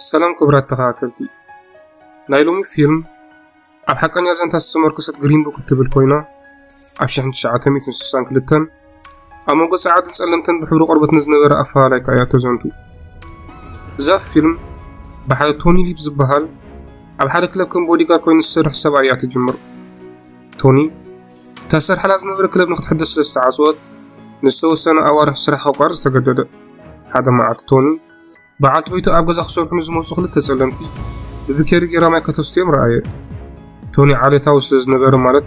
ሰላም ክብራት ተኸታተልቲ ናይ ሎሚ ፊልም ኣብ ሓቀኛ ዘንታ ዝተመርኮሰት ግሪን ቡክ እትብል ኮይና ኣብ 1962 ኣብ መንጎ ጸዓድን ጸለምትን ብሕብሪ ቆርበት ንዝነበረ ኣፈላላይ ከኣ እያ ተዘንቱ እዛ ፊልም ብሓደ ቶኒ ሊፕ ዝበሃል ኣብ ሓደ ክለብ ከም ቦዲጋር ኮይኑ ዝሰርሕ ሰብኣይ እያ ትጅምር ቶኒ ተሰርሓላ ዝነበረ ክለብ ንክትሕደስ ስለ ዝተዓጽወት ንዝተወሰነ ኣዋርሕ ስራሕ ከቋርጽ ተገደደ። ሓደ መዓልቲ ቶኒ በዓልቲ ቤቱ ኣብ ገዛ ክሰርሑ ንዝመጹ ክልተ ጸለምቲ ብብኬሪ ጌራ ማይ ከተስትዮም ረኣየ። ቶኒ ዓሌታዊ ስለ ዝነበረ ማለት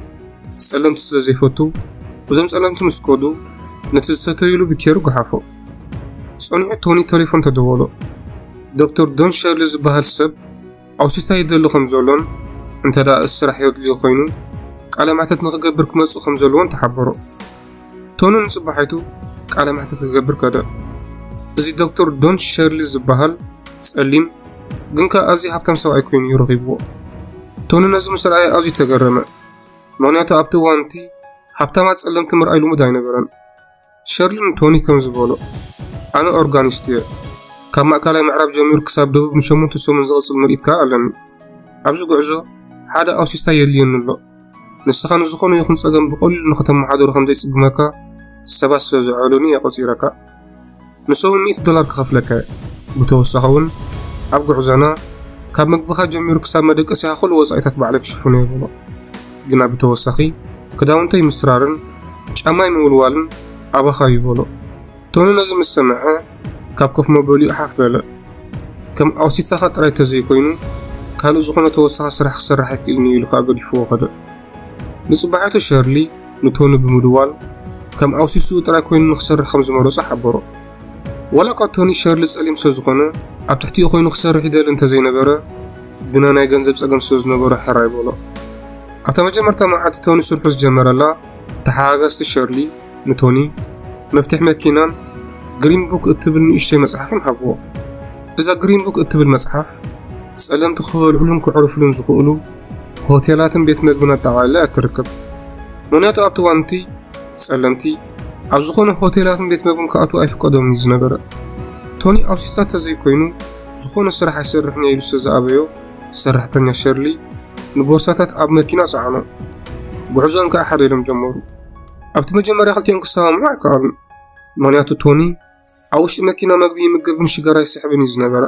ጸለምቲ ስለ ዘይፈቱ እዞም ጸለምቲ ምስ ከዱ ነቲ ዝሰተይሉ ብኬሩ ገሓፎ ጸኒዑ ቶኒ ቴሌፎን ተደወሎ ዶክተር ዶን ሸርሊ ዝበሃል ሰብ ኣውሲሳ ይደሊ ከም ዘሎን እንተ ደኣ እዚ ስራሕ የድልዮ ኮይኑ ቃለ መሕተት ንክገብር ክመጽእ ከም ዘለዎን ተሓበሮ። ቶኒ ንጽባሒቱ ቃለ መሕተት ክገብር ከደ። እዚ ዶክተር ዶን ሸርሊ ዝበሃል ጸሊም ግን ከኣ ኣዝዩ ሃብታም ሰብኣይ ኮይኑ እዩ ረኺብዎ። ቶኒ ነዚ ምስ ረኣየ ኣዝዩ ተገረመ። ምክንያቱ ኣብቲ እዋን እቲ ሃብታማት ጸለምቲ ምርኣይ ልሙድ ኣይነበረን። ሸርሊን ቶኒ ከም ዝበሎ ኣነ ኦርጋኒስት እየ ካብ ማእካላይ ምዕራብ ጀሚሩ ክሳብ ደቡብ ንሸሞንተ ሰሙን ዝቕጽል ምርኢት ከኣ ኣለኒ ኣብዚ ጉዕዞ ሓደ ኣውሲስታ የድልየኒ ኣሎ ንስኻ ንዝኾነ ይኹን ጸገም ብቐሊሉ ንኽተመሓደሩ ከም ዘይጽግመካ ሰባት ስለ ዝዐሉኒ እየ ቆጺረካ ንሶም ሚእቲ ዶላር ክኸፍለከ ብተወሳኺ ውን ኣብ ጉዕዞና ካብ ምግብኻ ጀሚሩ ክሳብ መደቀሲኻ ኩሉ ወጻኢታት ባዕለይ ክሽፍኖ እየ በሎ። ግና ብተወሳኺ ክዳውንተይ ምስራርን ጫማይ ምውልዋልን ኣባኻ እዩ በሎ። ቶኒ ነዚ ምስ ሰምዐ ካብ ኮፍ መበሊኡ ሓፍ በለ። ከም ኣውሲታኻ ጥራይ ተዘይኮይኑ ካልእ ዝኾነ ተወሳኺ ስራሕ ክሰርሕ ኣይክእልን እዩ ኢሉ ከኣ ገዲፍዎ ከደ። ንጽባሒቱ ሸርሊ ንቶኒ ብምድዋል ከም ኣውሲስኡ ጥራይ ኮይኑ ንክሰርሕ ከም ዝመረጾ ሓበሮ። ዋላ'ኳ ቶኒ ሸርሊ ጸሊም ስለ ዝኾነ ኣብ ትሕቲኡ ኮይኑ ክሰርሕ ይደሊ እንተ ዘይነበረ ግና ናይ ገንዘብ ጸገም ስለ ዝነበሮ ሕራይ በሎ። ኣብታ መጀመርታ መዓልቲ ቶኒ ስርሑ ዝጀመረላ ተሓጋጋዝቲ ሸርሊ ንቶኒ መፍትሕ መኪናን ግሪን ቡክ እትብል ንእሽተይ መጽሓፍን ሃብዎ። እዛ ግሪን ቡክ እትብል መጽሓፍ ጸለምቲ ክበልዑሉን ከዕርፉሉን ዝኽእሉ ሆቴላትን ቤት መግብን ኣጠቓሊላ እያ እትርከብ። ምኽንያቱ ኣብቲ እዋን'ቲ ጸለምቲ ኣብ ዝኾነ ሆቴላትን ቤት መግብን ክኣትዉ ኣይፍቀዶምን እዩ ዝነበረ። ቶኒ ኣብ ስዊሳ ተዘይኮይኑ ዝኾነ ስራሕ ኣይሰርሕን እየ ኢሉ ስለ ዝኣበዮ ሰራሕተኛ ሸርሊ ንቦርሳታት ኣብ መኪና ጸዓኖ። ጉዕዞኦም ከኣ ሓደ ኢሎም ጀመሩ። ኣብቲ መጀመርያ ክልቲኦም ክሰማምዑ ኣይከኣሉን። ምኽንያቱ ቶኒ ኣብ ውሽጢ መኪና መግቢ ይምገብን ሽጋራ ይስሕብን እዩ ዝነበረ።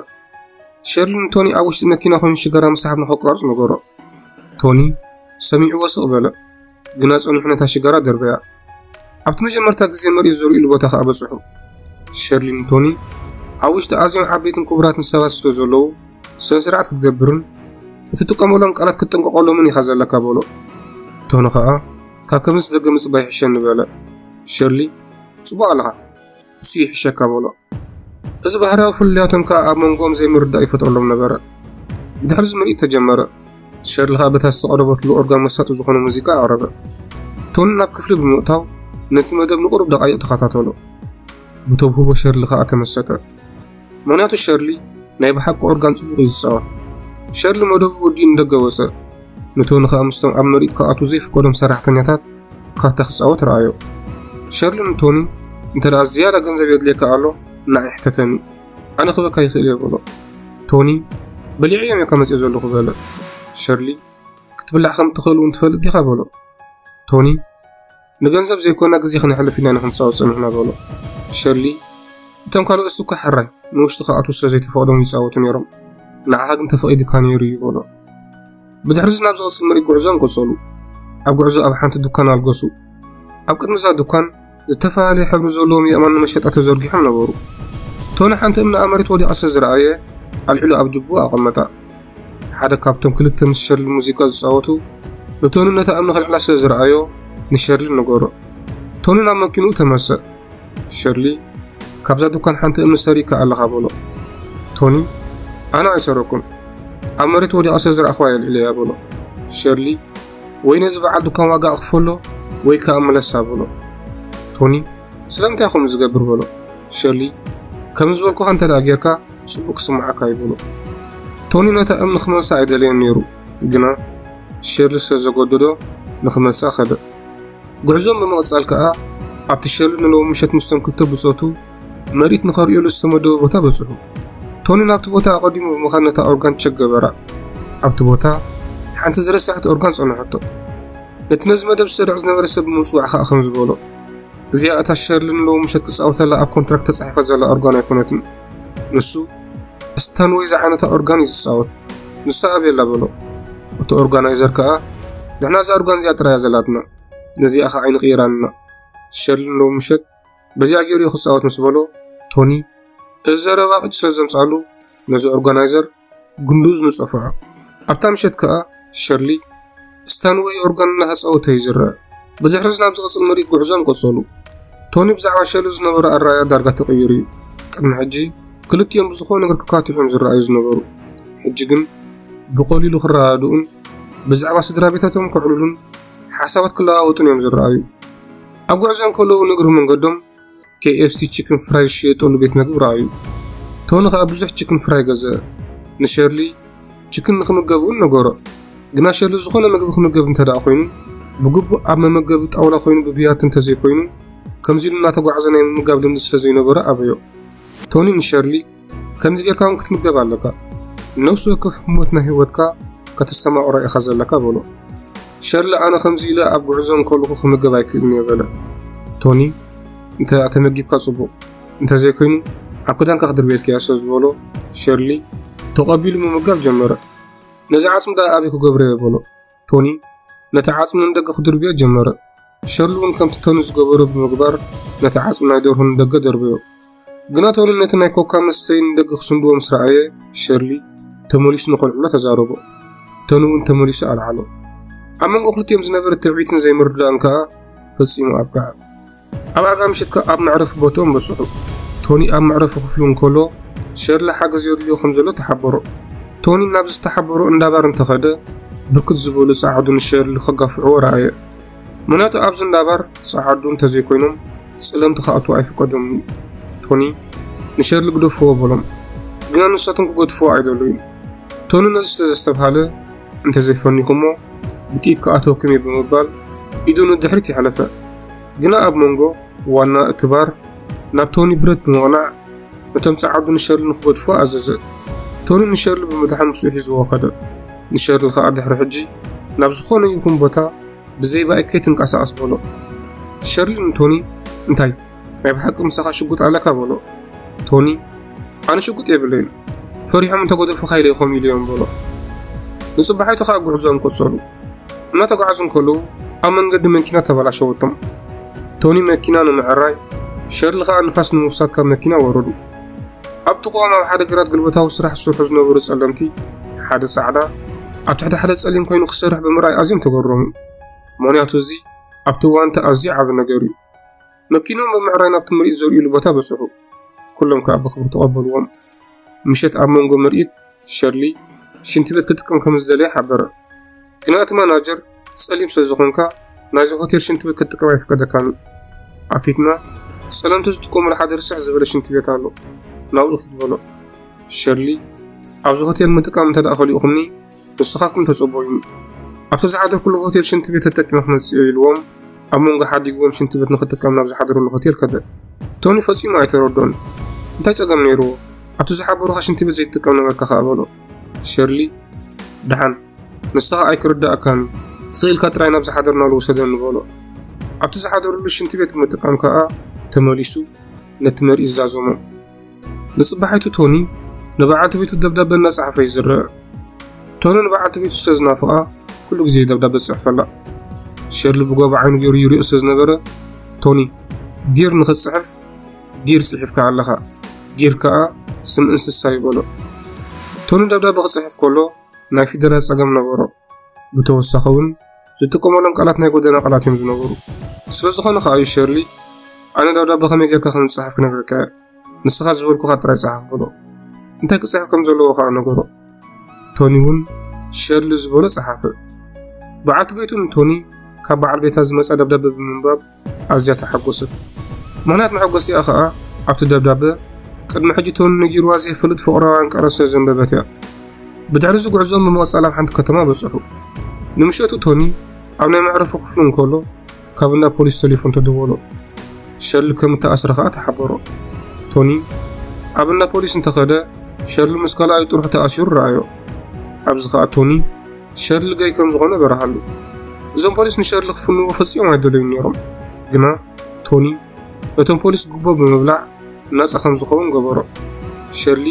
ሸርሊ ንቶኒ ኣብ ውሽጢ መኪና ኮይኑ ሽጋራ ምስሓብ ንኸቋርፅ ነገሮ። ቶኒ ሰሚዕዎ ስቕ በለ፣ ግና ጸኒሑ ነታ ሽጋራ ደርበያ። ኣብቲ መጀመርታ ግዜ መሪኡ ዘርእሉ ቦታ ከኣ በጽሑ። ሸርሊ ንቶኒ ኣብ ውሽጢ ኣዝዮም ዓበይትን ክቡራትን ሰባት ስለ ዘለዉ ስነ ስርዓት ክትገብርን እትጥቀመሎም ቃላት ክትጥንቀቐሎምን ኢኻ ዘለካ በሎ። ቶኒ ኸኣ ካብ ከምዚ ዝደገ ምጽባይ ይሕሸኒ በለ። ሸርሊ ጽቡቕ ኣለኻ እሱ ይሕሸካ በሎ። እዚ ባህርያዊ ፍልልያቶም ከኣ ኣብ መንጎኦም ዘይምርዳእ ይፈጥረሎም ነበረ። ድሕርዚ ምርኢት ተጀመረ። ሸርሊ ከኣ በታ ዝተቐረበትሉ ኦርጋን መሳጢ ዝኾነ ሙዚቃ ኣቕረበ። ቶኒ ናብ ክፍሊ ብምእታው ነቲ መደብ ንቕሩብ ደቓይቕ ተኸታተሎ። ብተውህቦ ሸርሊ ከኣ ተመሰጠ። ምክንያቱ ሸርሊ ናይ ብሓቂ ኦርጋን ጽቡቕ እዩ ዝጻወት ሸርሊ መደቡ ወዲኡ ንደገ ወጸ ንቶኒ ከኣ ምስቶም ኣብ ምርኢት ክኣቱ ዘይፍቀዶም ሰራሕተኛታት ካርታ ክጻወት ረኣዮ ሸርሊ ንቶኒ እንተ ደኣ ዝያዳ ገንዘብ የድልየካ ኣሎ ንዓይ ሕተተኒ ኣነ ክበካ ይኽእል እየ በሎ ቶኒ በሊዐ እዮም እካ መጽኦ ዘለኹ በለ ሸርሊ ክትብላዕ ከም እትኽእል እውን ትፈልጥ ዲኻ በሎ ቶኒ ንገንዘብ ዘይኮና ግዜ ክነሕልፍ ኢና ንክንፃወት ፀኒሕና በሎ ሸሊ እቶም ካልኦት እሱ እኳ ሕራይ ንውሽጢ ክኣትዉ ስለ ዘይተፈቕዶም ይፃወቱ ነይሮም ንዓኻ ግን ተፈቒዱካ ነይሩ እዩ በሎ ብድሕሪ እዚ ናብ ዝቕፅል ምርኢት ጉዕዞም ቀፀሉ ኣብ ጉዕዞ ኣብ ሓንቲ ዱካን ኣልገሱ ኣብ ቅድሚ እዛ ዱካን ዝተፈላለየ ሕብሪ ዘለዎም የእማን ንመሸጣ ተዘርጊሖም ነበሩ ቶኒ ሓንቲ እምኒ ኣብ መሬት ወዲቓ ስለ ዝረኣየ ኣልዒሉ ኣብ ጅቡኡ ኣቐመጣ ሓደ ካብቶም ክልተ ምስ ሸርሊ ሙዚቃ ዝጻወቱ ንቶኒ ነታ እምኒ ከልዕላ ስለ ዝረኣዮ ንሸርሊ ነገሮ። ቶኒ ናብ መኪንኡ ተመሰ። ሸርሊ ካብዛ ዱካን ሓንቲ እምኒ ሰሪካ ኣለኻ በሎ። ቶኒ ኣነ ኣይሰረኩን ኣብ መሬት ወዲቓ ስለ ዝረኣኽዋ የልዕለያ በሎ። ሸርሊ ወይ ነዚ በዓል ዱካን ዋጋ ኣኽፈሎ ወይ ከኣ ምለሳ በሎ። ቶኒ ስለምንታይ ከምኡ ዝገብር በሎ። ሸርሊ ከም ዝበልኩኻ እንተ ጌርካ ጽቡቕ ክስምዓካ እዩ በሎ። ቶኒ ነታ እምኒ ክመልሳ ኣይደለየን ነይሩ፣ ግና ሸርሊ ስለ ዘገደዶ ንኽመልሳ ከደ። ጉዕዞኦም ብምቕጻል ከኣ ኣብቲ ሸርሊ ንሎሚ ምሸት ምስቶም ክልተ ብጾቱ መርኢት ንኸርእዩሉ ዝተመደበ ቦታ በጽሑ። ቶኒ ናብቲ ቦታ ኣቐዲሙ ብምኻድ ነታ ኦርጋን ቸክ ገበራ። ኣብቲ ቦታ ሓንቲ ዝረሳዐት ኦርጋን ጸንሐቶ። ነቲ ነዚ መደብ ዝሰርዕ ዝነበረ ሰብ ብምጽዋዕ ከኣ ከምዚ በሎ፣ እዚኣ እታ ሸርሊ ንሎሚ ምሸት ክጻወተላ ኣብ ኮንትራክት ተጻሒፋ ዘላ ኦርጋን ኣይኮነትን። ንሱ ስተንወይ ዝዓነታ ኦርጋን እዩ ዝጻወት ንሱ ኣብየላ በሎ እቲ ኦርጋናይዘር ከኣ ንሕና እዛ ኦርጋን እዚኣ ጥራያ ዘላትና ነዚኣ ከ ዓይኒ ቅይራንና ሸልን ሎሚ ምሸት በዚኣ ገይሩ ክጻወት ምስ በሎ ቶኒ እዚ ዘረባ ቅጭ ስለ ዘምጻሉ ነዚ ኦርጋናይዘር ግንዱዝ ንጸፍዖ። ኣብታ ምሸት ከኣ ሸርሊ፣ ስታን ወይ ኦርጋን እናተጻወተ እዩ ዝረኣ። ብድሕርዚ ናብ ዝቕጽል ምርኢት ጉዕዞም ቀጸሉ። ቶኒ ብዛዕባ ሸርሊ ዝነበሮ ኣረኣእያ ዳርጋ ተቐይሩ እዩ። ቅድሚ ሕጂ ክልቲኦም ብዝኾነ ነገር ክካትዑን ዝረኣዩ ዝነበሩ፣ ሕጂ ግን ብቐሊሉ ክረዳድኡን ብዛዕባ ስድራ ቤታቶም ከዕልሉን ሓሳባት ክለዋወጡን እዮም ዝረኣዩ። ኣብ ጉዕዞ እንከለዉ ንእግሪ መንገዶም KFC ቺክን ፍራይ ዝሽየጠሉ ቤት መግቢ ረኣዩ። ቶኒ ከኣ ብዙሕ ቺክን ፍራይ ገዝአ። ንሸርሊ ቺክን ንኽምገብ እውን ነገሮ። ግና ሸርሊ ዝኾነ ምግቢ ክምገብ እንተደኣ ኮይኑ፣ ብግቡእ ኣብ መመገቢ ጣውላ ኮይኑ ብብያቲ እንተዘይኮይኑ፣ ከምዚ ኢሉ እናተጓዕዘ ናይ ምምጋብ ልምዲ ስለዘይነበሮ ኣበዮ። ቶኒ ንሸርሊ፣ ከምዚ ጌርካ እውን ክትምገብ ኣለካ ነፍሲ ወከፍ ህሞት ናይ ህይወትካ ከተስተማቕሮ ኢኻ ዘለካ በሎ ሸርሊ ኣነ ከምዚ ኢለ ኣብ ጉዕዞ እንከለኹ ክምገብ ኣይክእልን እየ በለ ቶኒ እንተ ተመጊብካ ጽቡቕ እንተዘይኮይኑ ኣብ ክዳንካ ክድርቤልካ እያ ስለ ዝበሎ ሸርሊ ተቐቢሉ ምምጋብ ጀመረ ነዚ ዓጽሚ ዳ ኣበይ ክገብረ እየ በሎ ቶኒ ነቲ ዓጽሚ ንደገ ክድርብዮ ጀመረ። ሸርሊ እውን ከምቲ ቶኒ ዝገበሮ ብምግባር ነቲ ዓጽሚ ናይ ደርሆ ንደገ ደርበዮ። ግና ቶኒ ነቲ ናይ ኮካ መሰይ ንደገ ክስንድዎ ምስ ረኣየ ሸርሊ ተመሊሱ ንኸልዕሎ ተዛረቦ። ቶኒ እውን ተመሊሱ ኣልዓሎ። ኣብ መንጎ ክልቲኦም ዝነበረ ትዕቢትን ዘይምርዳእን ከኣ ፈጺሙ ኣብቅዐ። ኣብ ኣጋ ምሽት ከኣ ኣብ መዕረፊ ቦትኦም በጽሑ። ቶኒ ኣብ መዕረፊ ክፍሉ እንከሎ፣ ሸርሊ ሓገዝ የድልዮ ከም ዘሎ ተሓበሮ። ቶኒ ናብ ዝተሓበሮ እንዳ ባር እንተ ኸደ፣ ብርክት ዝበሉ ጸዓዱ ንሸርሊ ከጋፍዕዎ ረኣየ። ምኽንያቱ ኣብዚ እንዳ ባር ጸዓዱ እንተ ዘይኮይኖም ጸለምቲ ክኣትዉ ኣይፍቀዶምን እዩ። ቶኒ፣ ንሸርሊ ግደፍዎ በሎም። ግና ንሳቶም ክገድፍዎ ኣይደለዩን። ቶኒ ነዚ ስለ ዘስተብሃለ፣ እንተ ዘይፈኒኹሞ ብጥይት ክኣትወኩም እየ ብምባል ኢዱ ንድሕሪት የሕለፈ። ግና ኣብ መንጎ ዋና እቲ ባር ናብ ቶኒ ብረት ብምቕናዕ ነቶም ጸዓዱ ንሸርሊ ንክገድፉ ኣዘዘ። ቶኒ ንሸርሊ ብምድሓን ምስኡ ሒዝዎ ከደ። ንሸርሊ ከኣ ድሕሪ ሕጂ ናብ ዝኾነ ይኹን ቦታ ብዘይ ባይ ከይትንቀሳቐስ በሎ። ሸርሊ ንቶኒ እንታይ ናይ ብሓቂ ምሳኻ ሽጉጥ ኣለካ በሎ። ቶኒ ኣነ ሽጉጥ የብለይን ፈሪሖም እንተገደፉ ካይደይኮም ኢሉዮም በሎ። ንጽባሒቱ ከኣ ጉዕዞኦም ቀጸሉ። እናተጓዕዙ እንከለዉ ኣብ መንገዲ መኪና ተበላሸወቶም። ቶኒ መኪና ንምዕራይ፣ ሸርሊ ከኣ ንፋስ ንምውሳድ ካብ መኪና ወረዱ። ኣብ ጥቕኦም ኣብ ሓደ ግራት ግልበታዊ ስራሕ ዝሰርሑ ዝነበሩ ጸለምቲ፣ ሓደ ጻዕዳ ኣብ ትሕቲ ሓደ ጸሊም ኮይኑ ክሰርሕ ብምርኣይ ኣዝዮም ተገረሙ። ምኽንያቱ እዚ ኣብቲ እዋን እቲ ኣዝዩ ዓቢ ነገር እዩ። መኪኖም ብምዕራይ ናብቲ ምርኢት ዘርእዩሉ ቦታ በጽሑ። ኩሎም ከኣ ብኽብሪ ተቐበልዎም። ምሸት ኣብ መንጎ ምርኢት ሸርሊ ሽንቲ ቤት ክጥቀም ከም ዝደለየ ሓበረ። ግና እቲ ማናጀር ጸሊም ስለ ዝኾንካ ናይዚ ሆቴል ሽንቲ ቤት ክትጥቀም ኣይፍቀደካን እዩ። ኣብ ፊትና ጸለምቲ ዝጥቀሙሉ ሓደ ርስሕ ዝበለ ሽንቲ ቤት ኣሎ ናብኡ ክትበሎ ሸርሊ ኣብዚ ሆቴል ምጥቃም እንተ ደኣ ከሊእኹምኒ ንስኻትኩም ተጸበዩኒ፣ ኣብቲ ዝሓደርኩሉ ሆቴል ሽንቲ ቤት ተጠቂመ ክመጽእዮ ኢልዎም ኣብ መንጎ ሓዲግዎም ሽንቲ ቤት ንኽጥቀም ናብ ዝሓደረሉ ሆቴል ከደ። ቶኒ ፈጺሙ ኣይተረድኦን። እንታይ ጸገም ነይርዎ? ኣብቲ ዝሓበሩኻ ሽንቲ ቤት ዘይትጥቀም ነበርካ ከኣ በሎ። ሸርሊ ደሓን ንስኻ ኣይክርዳእካን እዩ ስቕ ኢልካ ጥራይ ናብ ዝሓደርናሉ ውሰደኒ በሎ። ኣብቲ ዝሓደርሉ ሽንቲ ቤት ብምጥቃም ከኣ ተመሊሱ ነቲ መርኢት ዛዘሞ። ንጽባሒቱ ቶኒ ንበዓልቲ ቤቱ ደብዳበ እናጸሓፈ እዩ ዝርአ። ቶኒ ንበዓልቲ ቤቱ ስለ ዝናፍቓ ኩሉ ግዜ ደብዳበ ዝጽሕፈላ። ሸርሊ ብጎባ ዓይኑ ገይሩ ይሪኦ ስለ ዝነበረ ቶኒ ዲር ንኽትጽሕፍ ዲር ጽሒፍካ ኣለኻ፣ ዲር ከኣ ስም እንስሳ ይበሎ። ቶኒ ደብዳበ ክጽሕፍ ከሎ ናይ ፊደላት ጸገም ነበሮ። ብተወሳኺ እውን ዝጥቀመሎም ቃላት ናይ ጎደና ቃላት እዮም ዝነበሩ ስለዝኾነ ከዓ እዩ ሸርሊ ኣነ ደብዳቤ ከመይ ጌርካ ከም ዝፅሓፍ ክነግረካ እየ ንስኻ ዝበልኩኻ ጥራይ ፀሓፍ በሎ እንታይ ክፅሕፍ ከም ዘለዎ ከዓ ነገሮ ቶኒ እውን ሸርሊ ዝበሎ ፀሓፈ በዓልቲ ቤቱ ንቶኒ ካብ በዓል ቤታ ዝመፀ ደብዳቤ ብምንባብ ኣዝያ ተሓጎሰት። ምኽንያት መሐጎስቲኣ ከኣ ኣብቲ ደብዳበ ቅድሚ ሕጂ ቶኒ ነጊርዋ ዘይፈልጥ ፍቕራዊ ኣንቀረ ስለ ዘንበበት እያ። ብድሕሪዚ ጉዕዞኦም ብምቕጻል ኣብ ሓንቲ ከተማ በጽሑ። ንምሸቱ ቶኒ ኣብ ናይ መዕረፉ ክፍሉ እንከሎ ካብ እንዳ ፖሊስ ቴሌፎን ተደወሎ። ሸርሊ ከም እተኣስረ ከኣ ተሓበሮ። ቶኒ ኣብ እንዳ ፖሊስ እንተኸደ ሸርሊ ምስ ካልኣዩ ጥርሑ ተኣሲሩ ረኣዮ። ኣብዚ ከኣ ቶኒ ሸርሊ ገይ ከም ዝኾነ በረሃሉ። እዞም ፖሊስ ንሸርሊ ክፍንዎ ፈጺኦም ኣይደለዩን ነይሮም፣ ግና ቶኒ ነቶም ፖሊስ ጉቦ ብምብላዕ ናጻ ከም ዝኸውን ገበሮ። ሸርሊ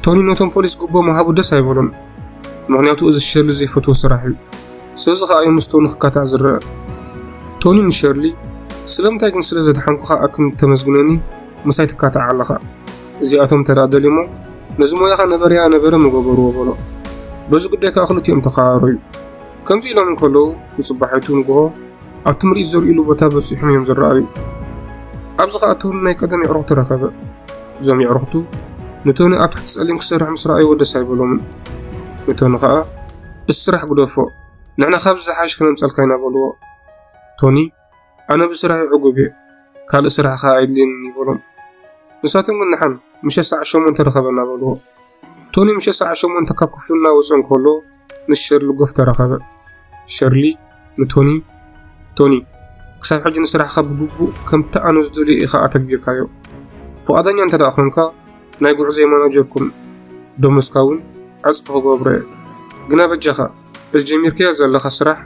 ቶኒ ነቶም ፖሊስ ጉቦ ምሃቡ ደስ ኣይበሎም፣ ምክንያቱ እዚ ሸርሊ ዘይፈትዎ ስራሕ እዩ። ስለዚ ከኣ እዩ ምስ ቶኒ ክካታዕ ዝረአ። ቶኒ ንሸርሊ ስለምንታይ ግን ስለ ዘድሓንኩኻ ኣክን ተመስግነኒ ምሳይ ትካታዕ ኣለኻ? እዚኣቶም እንተ ደኣ ደልዮሞ፣ ነዚ ሞያኻ ነበረያ ነበረ ምገበርዎ በሎ። በዚ ጉዳይ ከኣ ክልቲኦም ተኸራረዩ። ከምዚ ኢሎም እንከለዉ፣ ንጽባሒቱ ንግሆ ኣብቲ ምርኢት ዘርእዩሉ ቦታ በጺሖም እዮም ዝረኣዩ። ኣብዚ ከኣ ቶኒ ናይ ቀደም የዕሩኽቱ ረኸበ። እዞም የዕሩኽቱ ንቶኒ ኣብ ትሕቲ ጸሊም ክሰርሕ ምስ ረኣይዎ ደስ ኣይበሎምን። ንቶኒ ከኣ እቲ ስራሕ ግደፎ፣ ንሕና ካብዚ ዝሓሸ ከነምጸልካ ኢና በልዎ። ቶኒ ኣነ ብስራሐይ ዕጉብ እየ ካልእ ስራሕ ከ ኣይድልየንን በሎም ንሳቶም ግን ንሓን ምሸት ሰዓት ሸሞንተ ርኸበና በልዎ ቶኒ ምሸት ሰዓት ሸሞንተ ካብ ክፍሉ እናወፀ እንከሎ ምስ ሸርሊ ጎፍ ተረኸበ ሸርሊ ንቶኒ ቶኒ ክሳብ ሕጂ ንስራሕካ ብግቡእ ከምቲ ኣነ ዝደልዮ ኢኻ ኣተግቢርካዮ ፍቓደኛ እንተ ደኣ ኾንካ ናይ ጉዕዘይ ማናጀርኩም ደሞዝካ እውን ዕፅፊ ክገብሮ እየ ግና በጃኻ በዚ ጀሚርካዮ ዘለኻ ስራሕ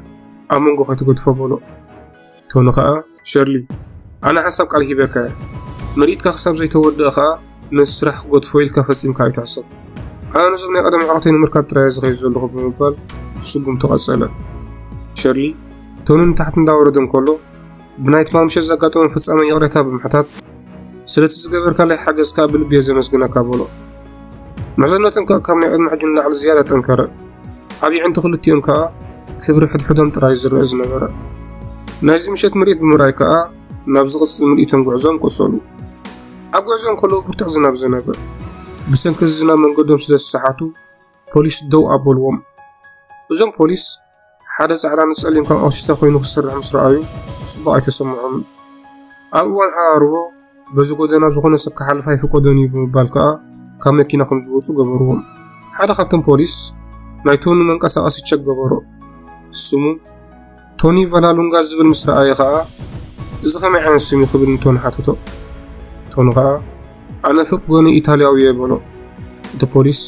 ኣብ መንጎ ከይትገድፎ በሎ። ቶኒ ከኣ ሸርሊ ኣነ ሓንሳብ ቃል ሂበካ እየ ምርኢትካ ክሳብ ዘይተወድኣ ከኣ ነዚ ስራሕ ክገድፎ ኢልካ ፈጺምካ ኣይትሕሰብ ኣነ ነዞም ናይ ቀደም ኣዕሩኽተይ ንምርካብ ጥራይ ዝኸይድ ዘለኹ ብምባል ስጉምቱ ቀጸለ። ሸርሊ ቶኒ ንታሕቲ እንዳወረደ እንከሎ ብናይ ትማል ምሸት ዘጋጠሞ ፍጻመ ይቕሬታ ብምሕታት ስለቲ ዝገበርካለይ ሓገዝ ከዓ ብልቢ እየ ዘመስግነካ በሎ ምሕዝነቶም ከዓ ካብ ናይ ዕድመ ሕጂ ንላዕሊ ዝያዳ ጠንከረ ዓብ ዕንቱ ክልቲኦም ከዓ ክብሪ ሕድሕዶም ጥራይ ዝርአ ዝነበረ ናይዚ ምሸት ምርኢት ብምርኣይ ከዓ ናብ ዝቕፅል ምልኢቶም ጉዕዞም ቆሰሉ ኣብ ጉዕዞም ከለዉ ብርትዕ ዝናብ ዘነበ ብሰንኪ እዚ ዝናብ መንገዶም ስለ ዝሰሓቱ ፖሊስ ደው ኣበልዎም እዞም ፖሊስ ሓደ ጻዕዳ ንጸሊም ከም ኦሽተ ኮይኑ ክሰርሕ ምስ ረኣዩ ጽቡቕ ኣይተሰምዖምን። ኣብ እዋን ዓራርቦ በዚ ጎደና ዝኾነ ሰብ ክሓልፍ ኣይፍቀዶን እዩ ብምባል ከኣ ካብ መኪና ከም ዝወጹ ገበርዎም። ሓደ ካብቶም ፖሊስ ናይ ቶኒ መንቀሳቐሲ ቸክ ገበሮ። ስሙ ቶኒ ቫላሉንጋ ዝብል ምስ ረኣየ ከኣ እዚ ከመይ ዓይነት ስም እዩ ክብል ንቶኒ ሓተቶ። ቶኒ ከኣ ኣነ ፍቅ ጎኒ ኢታልያዊ እየ በሎ እቲ ፖሊስ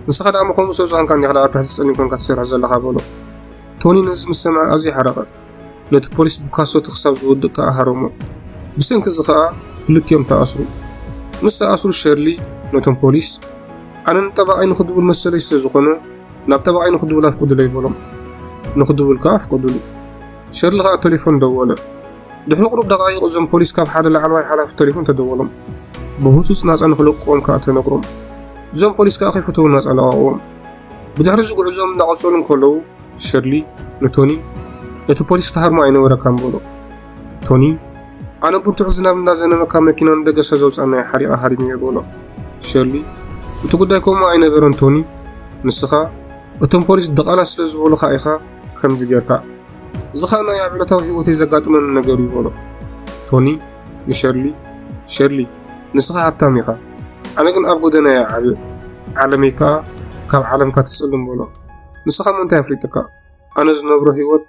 ንስኻ ደኣ ምኾኑ ሰብ ዝኾንካ እንዲኻ ደኣ ትሕቲ ጸሊም ኮንካ ትሰርሕ ዘለኻ በሎ ቶኒ ነዚ ምስ ሰምዐ ኣዝዩ ሓረቐ ነቲ ፖሊስ ብካሶቲ ክሳብ ዝወድእ ከኣ ሃረሞ ብሰንኪ እዚ ከኣ ክልቲኦም ተኣስሩ ምስ ተኣስሩ ሸርሊ ነቶም ፖሊስ ኣነ ንጠባቐይ ንኽድውል መሰለይ ስለ ዝኾነ ናብ ጠባቐይ ንኽድውል ኣፍቅዱለይ በሎም ንኽድውል ከኣ ኣፍቀዱሉ ሸርሊ ከኣ ተሌፎን ደወለ። ድሕሪ ቁሩብ ደቓይቕ እዞም ፖሊስ ካብ ሓደ ላዕለዋይ ሓላፊ ተሌፎን ተደወሎም። ብህጹጽ ናጻ ንኽለቅዎም ከኣ ተነግሮም። እዞም ፖሊስ ከኣ ከይፈተዉ ናጻ ለቓቕዎም። ብድሕሪ እዚ ጉዕዞኦም እንዳቐጸሉ እንከለዉ ሸርሊ ንቶኒ ነቲ ፖሊስ ትሃርሞ ኣይነበረካን በሎ። ቶኒ ኣነ ብርቱዕ ዝናብ እንዳዘነበ ካብ መኪና ንደገሰ ዘውጻናዮ ሓሪቐ ሃሪመዮ በሎ። ሸርሊ እቲ ጉዳይ ከምኡ ኣይነበረን ቶኒ ንስኻ እቶም ፖሊስ ድቓላ ስለ ዝበሉኻ ኢኻ ከምዚ ጌርካ እዚ ኸኣ ናይ ኣብ ዕለታዊ ህይወተይ ዘጋጥመኒ ነገር እዩ በሎ ቶኒ ንሸርሊ ሸርሊ ንስኻ ሃብታም ኢኻ ኣነ ግን ኣብ ጎደና እየ ዓብየ ዓለመይ ከኣ ካብ ዓለምካ ትጽልም በሎ ንስኻ ሞ እንታይ ኣፍሊጥካ ኣነ ዝነብሮ ህይወት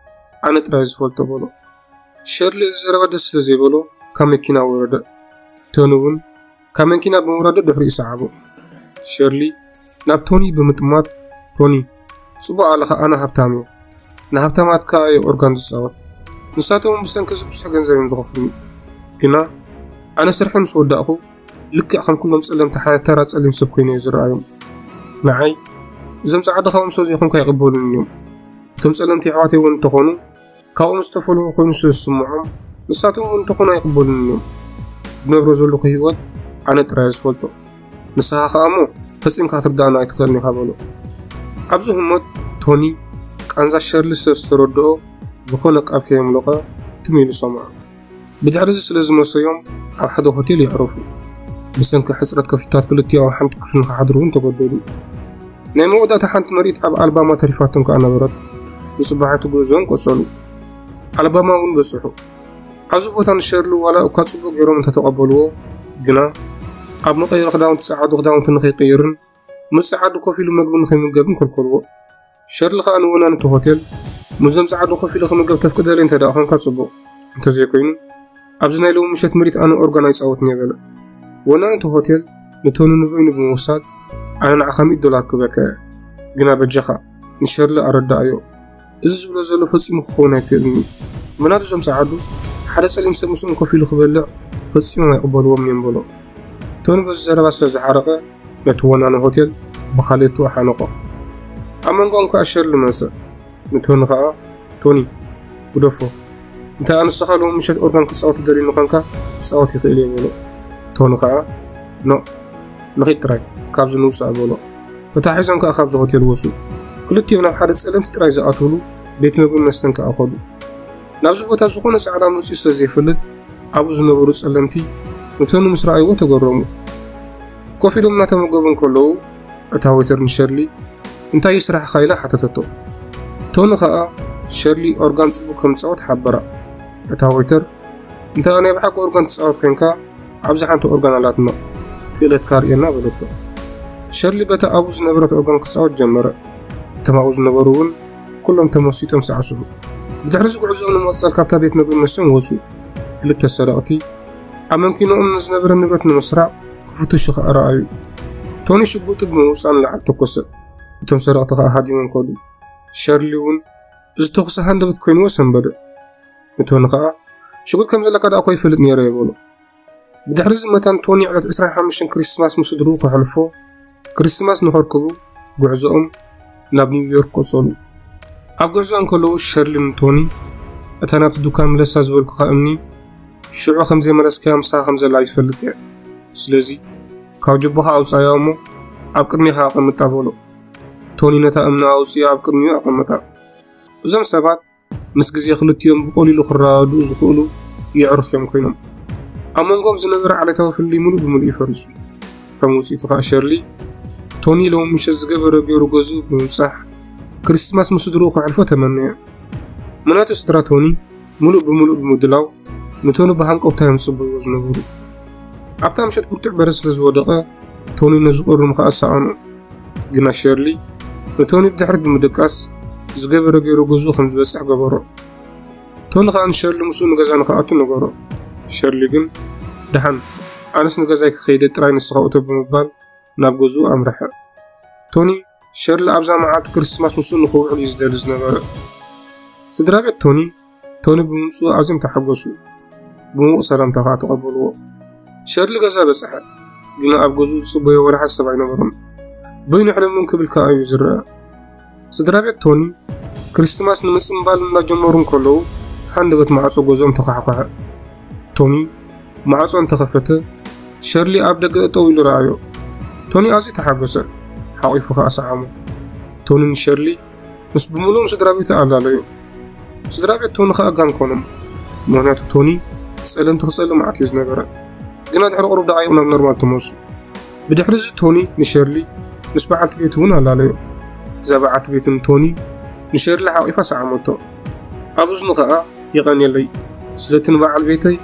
ኣነ ጥራይ ዝፈልጦ በሎ ሸርሊ እዚ ዘረባ ደስ ስለ ዘይበሎ ካብ መኪና ወረደ ቶኒ እውን ካብ መንኪና ብምውራዶ ድሕሪኡ ሰዓቦ። ሸርሊ ናብ ቶኒ ብምጥማት ቶኒ ጽቡቕ ኣለኻ ኣነ ሃብታም እየ ንሃብታማት ከኣ እየ ኦርጋን ዝጻወት ንሳቶም ብሰንኪ እዚ ብዙሕ ገንዘብ እዮም ዝኸፍሉኒ ግና ኣነ ስርሐ ምስ ወዳእኹ ልክዕ ከም ኩሎም ጸለምቲ ሓደ ተራ ጸሊም ሰብ ኮይኑ እየ ዝረኣዮም ንዓይ እዞም ጻዕዲ ካብኦም ስለ ዘይኮንካ ይቕበሉን እዮም እቶም ጸለምቲ ኣሕዋተይ እውን እንተኾኑ ካብኦም ዝተፈለዉ ኮይኑ ስለ ዝስምዖም ንሳቶም እውን እንተኾኑ ኣይቕበሉን እዮም ዝነብሮ ዘለኹ ህይወት ኣነ ጥራይ ዝፈልጦ ንስኻ ከዓ እሞ ፈፂምካ ትርዳእና ኣይትኽእልን ኢኻ በሎ ኣብዚ ህሞት ቶኒ ቃንዛ ሸርሊ ስለ ዝተረድኦ ዝኾነ ቃል ከየምለቐ ትም ኢሉ ሰምዖ ብድሕርዚ ስለ ዝመሰዮም ኣብ ሓደ ሆቴል የዕረፉ። ብሰንኪ ሕጽረት ክፍልታት ክልቲኦም ኣብ ሓንቲ ክፍሊ ንኽሓድሩ እውን ተገደዱ። ናይ መወዳእታ ሓንቲ መርኢት ኣብ ኣልባማ ተሪፋቶም ከኣ ነበረት። ንጽባሒቱ ጉዕዞኦም ቀጸሉ። ኣልባማ እውን በጽሑ። ኣብዚ ቦታ ንሸርሊ ዋላ እኳ ጽቡቕ ገይሮም እንተተቐበልዎ ግና ኣብ መቐይሮ ክዳውንቲ ጸዓዱ ክዳውንቲ ንኽይቅይርን ምስ ጸዓዱ ኮፍ ኢሉ መግቢ ንኸይምገብን ከልከልዎ። ሸርሊ ከኣ ንወናኒ እቲ ሆቴል ምስዞም ጸዓዱ ኮፍ ኢሉ ክምገብ ተፍቅደለይ እንተ ደኣ ኮንካ ጽቡቕ፣ እንተ ዘይኮይኑ ኣብዚ ናይ ሎሚ ምሸት ምሪት ኣነ ኦርጋን ኣይጻወትን እየ በለ። ወናኒ እቲ ሆቴል ንቶኒ ንበይኑ ብምውሳድ ኣነ ንዓኻ ሚእቲ ዶላር ክበካ እየ፣ ግና በጃኻ ንሸርሊ ኣረድኣዮ። እዚ ዝብሎ ዘሎ ፈጺሙ ክኸውን ኣይክእልን እዩ። ምናቱ እዞም ጸዓዱ ሓደ ጸሊም ሰብ ምስኦም ኮፍ ኢሉ ክበልዕ ፈጺሞም ኣይቕበልዎም እዮም በሎ። ቶኒ በዚ ዘረባ ስለ ዝሓረቐ ነቲ ወናኒ ሆቴል ብኻልኦቱ ኣሓነቖ። ኣብ መንጎኦም ከኣ ሸርሊ መጸ። ንቶኒ ከኣ ቶኒ ግደፎ እንተ ኣንስኻ ሎሚ ምሸት ኦርጋን ክትጻወት ትደልዩኒ ኾንካ ክጻወት ይኽእል እየ በሎ። ቶኒ ከኣ ኖ ንኺድ ጥራይ ካብዚ ንውጻእ በሎ። ተታሒዞም ከኣ ካብዚ ሆቴል ወጹ። ክልቲኦም ናብ ሓደ ጸለምቲ ጥራይ ዝኣትውሉ ቤት መግብን መስተን ከኣ ከዱ። ናብዚ ቦታ ዝኾነ ጻዕዳ መጺኡ ስለ ዘይፈልጥ ኣብኡ ዝነበሩ ጸለምቲ ንቶኒ ምስ ረኣይዎ ተገረሙ። ኮፍ ኢሎም እናተመገቡ እንከለዉ እታ ወይተር ንሸርሊ እንታይ እዩ ስራሕኻ ኢላ ሓተተቶ። ቶኒ ከኣ ሸርሊ ኦርጋን ጽቡቕ ከም ዝጻወት ሓበራ። እታ ወይተር እንተ ናይ ብሓቂ ኦርጋን ትጻወት ኮንካ ኣብዚ ሓንቲ ኦርጋን ኣላትና ክእለትካ ኣርእየና በለቶ። ሸርሊ በታ ኣብኡ ዝነበረት ኦርጋን ክጻወት ጀመረ። እቶም ኣብኡ ዝነበሩ እውን ኩሎም ተመሲጦም ሳዕስዑ። ብድሕሪ እዚ ጉዕዞኦም ንምቕጻል ካብታ ቤት መግቢ መሶም ወጹ። ክልተ ሰረቕቲ ኣብ መንኪኖኦም ንዝነበረ ንብረት ንምስራቕ ክፍትሹ ከኣ ረኣዩ። ቶኒ ሽጉጡ ብምውጻእ ንላዕሊ ተኮሰ። እቶም ሰረቕቲ ከኣ ሃዲሞም ከዱ። ሸርሊ እውን እዚ ተኹሲ ሃንደበት ኮይንዎ ሰንበደ። ንቶኒ ከኣ ሽጉጥ ከም ዘለካ ደኣኮ ይፈልጥ ነይረ እየ በሎ ብድሕሪ እዚ መታን ቶኒ ዕለት 25 ክሪስማስ ምስ ስድርኡ ከሕልፎ ክሪስማስ ንኸርክቡ ጉዕዞኦም ናብ ኒውዮርክ ቀጸሉ ኣብ ጉዕዞ እንከለዉ ሸርሊ ንቶኒ እታ ናብቲ ዱካን ምለሳ ዝበልኩኻ እምኒ ሽዑ ከም ዘይመለስካያ ምሳኻ ከም ዘላ ይፈልጥ እየ ስለዚ ካብ ጅቦኻ ኣውፃያ እሞ ኣብ ቅድሜኻ ኣቐምጣ በሎ ቶኒ ነታ እምኒ ኣውፅኡ ኣብ ቅድሚኡ ኣቐመጣ እዞም ሰባት ምስ ግዜ ክልቲኦም ብቐሊሉ ክረዳድኡ ዝኽእሉ የዕሩኽ እዮም ኮይኖም። ኣብ መንጎም ዝነበረ ዓሌታዊ ፍልልይ ምሉእ ብምሉእ እዩ ፈሪሱ። ከም ውጽኢቱ ኸኣ ሸርሊ፣ ቶኒ ሎሚ ምሸት ዝገበረ ገይሩ ገዝኡ ብምብጻሕ ክርስትማስ ምስ ስድርኡ ከሕልፎ ተመነየ። ምኽንያቱ ስድራ ቶኒ ምሉእ ብምሉእ ብምድላው ንቶኒ ብሃንቀውታ እዮም ዝጽበይዎ ዝነበሩ። ኣብታ ምሸት ብርቱዕ በረድ ስለ ዝወደቐ ቶኒ ነዚ ቁሪ ምኽኣል ሰኣኖ። ግና ሸርሊ ንቶኒ ብድሕሪት ብምድቃስ ዝገበረ ገይሩ ገዝኡ ከም ዝበጽሕ ገበሮ። ቶኒ ከኣ ንሸርሊ ምስኡ ንገዛ ንክኣቱ ነገሮ። ሸርሊ ግን ደሓን ኣነስ ንገዛይ ክኸይደ ጥራይ ንስኻ እቶ ብምባል ናብ ገዝኡ ኣምርሐ። ቶኒ ሸርሊ ኣብዛ መዓልቲ ክርስማስ ምስኡ ንክውዕል እዩ ዝደሊ ዝነበረ። ስድራ ቤት ቶኒ ቶኒ ብምምፅኡ ኣዝዮም ተሓጎሱ፣ ብምዉቕ ሰላምታ ከዓ ተቐበልዎ። ሸርሊ ገዛ በጽሐ፣ ግና ኣብ ገዝኡ ዝጽበዮ ወላ ሓደ ሰብ ኣይነበሮም። በይኑ ሕለምለም ክብል ከዓ እዩ ዝረአ። ስድራ ቤት ቶኒ ክርስትማስ ንምጽምባል እንዳጀመሩ እንከለዉ ሃንደበት ማዕጾ ገዝኦም ተዃሕኳሐ። ቶኒ ማዕጾ እንተኸፈተ ሸርሊ ኣብ ደገ እጠው ኢሉ ረኣዮ። ቶኒ ኣዝዩ ተሓጎሰ፣ ሓቚፉ ከዓ ሰዓሞ። ቶኒ ንሸርሊ ምስ ብምሉእ ስድራ ቤቱ ኣላለዩ ስድራ ቤት ቶኒ ከኣ ጋን ኮኖም ምክንያቱ ቶኒ ጸለምቲ ክጸልእ መዓት እዩ ዝነበረ ግና ድሕሪ ቅሩብ ደቃይቕ ናብ ኖርማል ተመልሱ ብድሕሪ እዚ ቶኒ ንሸርሊ ምስ በዓልቲ ቤቱ እውን ኣላለዩ እዛ በዓልቲ ቤትን ቶኒ ንሸርሊ ሓቂፋ ሰዓመቶ ኣብ እዝኑ ከኣ የቐንየለይ ስለቲ ንበዓል ቤተይ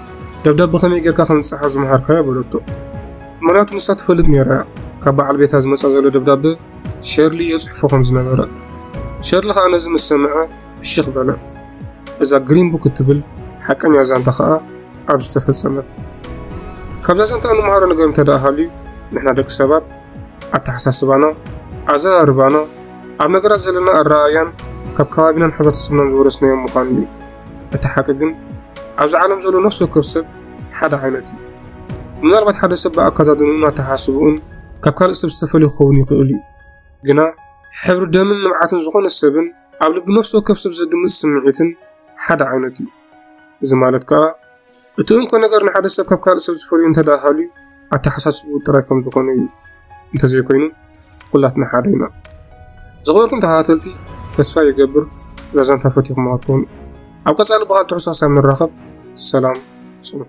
ደብዳብ ብኸመይ ጌርካ ከም ዝጸሓፍ ዝመሃርካዮ በለቶ ምክንያቱ ንሳ ትፈልጥ ነይራ እያ ካብ በዓል ቤታ ዝመጻ ዘሎ ደብዳበ ሸርሊ እዮ ጽሕፎ ከም ዝነበረ ሸርሊ ከኣ ነዚ ምስ ሰምዐ ፍሽኽ በለ እዛ ግሪን ቡክ እትብል ሓቀኛ ዛንታ ከኣ ኣብ ዝተፈጸመት ካብዛ ዛንታ እንመሃሮ ነገር እንተ ደኣ ሃልዩ ንሕና ደቂ ሰባት ኣተሓሳስባና ኣዘራርባና ኣብ ነገራት ዘለና ኣረኣእያን ካብ ከባቢናን ሕብረተሰብናን ዝወረስናዮም ምዃኑ እዩ እቲ ሓቂ ግን ኣብዚ ዓለም ዘሎ ነፍሲ ወከፍ ሰብ ሓደ ዓይነት እዩ። ምናልባት ሓደ ሰብ ብኣከዳድንኡን ኣተሓሳስብኡን ካብ ካልእ ሰብ ዝተፈልየ ክኸውን ይኽእል እዩ። ግና ሕብሪ ደምን ንብዓትን ዝኾነ ሰብን ኣብ ልቢ ነፍሲ ወከፍ ሰብ ዘድምፅ ስምዒትን ሓደ ዓይነት እዩ። እዚ ማለት ከዓ እቲ እንኮ ነገር ንሓደ ሰብ ካብ ካልእ ሰብ ዝፈልዩ እንተደኣ ሃልዩ ኣተሓሳስቡ ጥራይ ከም ዝኾነ እዩ እንተዘይኮይኑ ኩላትና ሓደ ኢና ዝኽበርኩም ተኸታተልቲ ተስፋ ይገብር ዛዛንታ ፈቲኹማ ትኾኑ ኣብ ቀፃሊ ብካል ትሕሶ ሃሳብ ንራኸብ ሰላም ፅንሑ